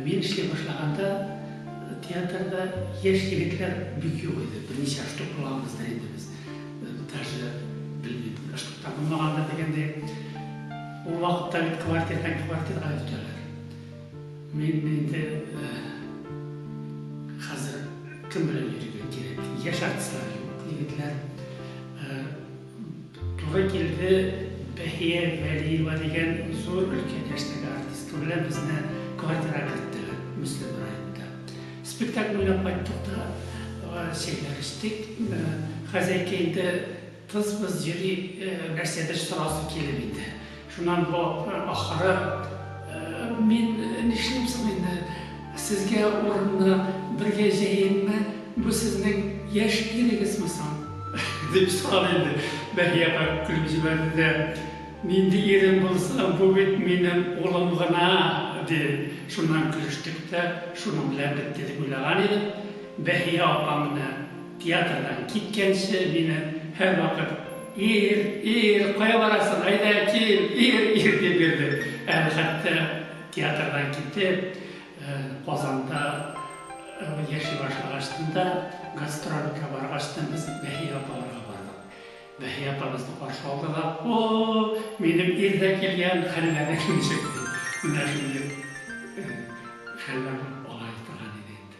Мин эшли башлаганда театрда яшь егетләр бик юк иде. Берничә штук булганбыздыр инде без. Даже белмим, бер штук та булмагандыр дигәндәй. Ул вакытта бит квартирдан квартирга йөртәләр. Мин инде хәзер кем белән йөрергә кирәк? Яшь артистлар юк, егетләр. Туры килде Бәһия Вәлиева дигән зур өлкән яшьтәге артистка белән безне квартирага керттеләр Мөслим районында. Спектакль уйнап кайттык та, чәйләр эчтек. Хозяйка инде тыз-быз йөри, нәрсәдер сорасы килеп инде. Шуннан бу ахыры, Мин нишлим соң инде, сезгә урынны бергә җәйимме, бу сезнең яшь ирегезме соң? Дип сорады инде. Бәһия апа көлеп җибәрде дә, Нинди ирем булсын, бу бит минем улым гына, диде. Шуннан көлештек тә, шуның белән бетте дип уйлаган идем. Бәһия апа менә театрдан киткәнче мине һәрвакыт Ир, ир, кая барасың, әйдә, кил, ир, ир, дип йөрде. Әле хәтта театрдан китеп, Казанда яши башлагачтын да, гастрольгә баргачтын без Бәһия апаларга бардык. Бәһия апа безне каршы алды да, О, минем ир дә килгән, хәлләр дә ничек? дип, менә шундый хәлләр булып ала торган иде инде.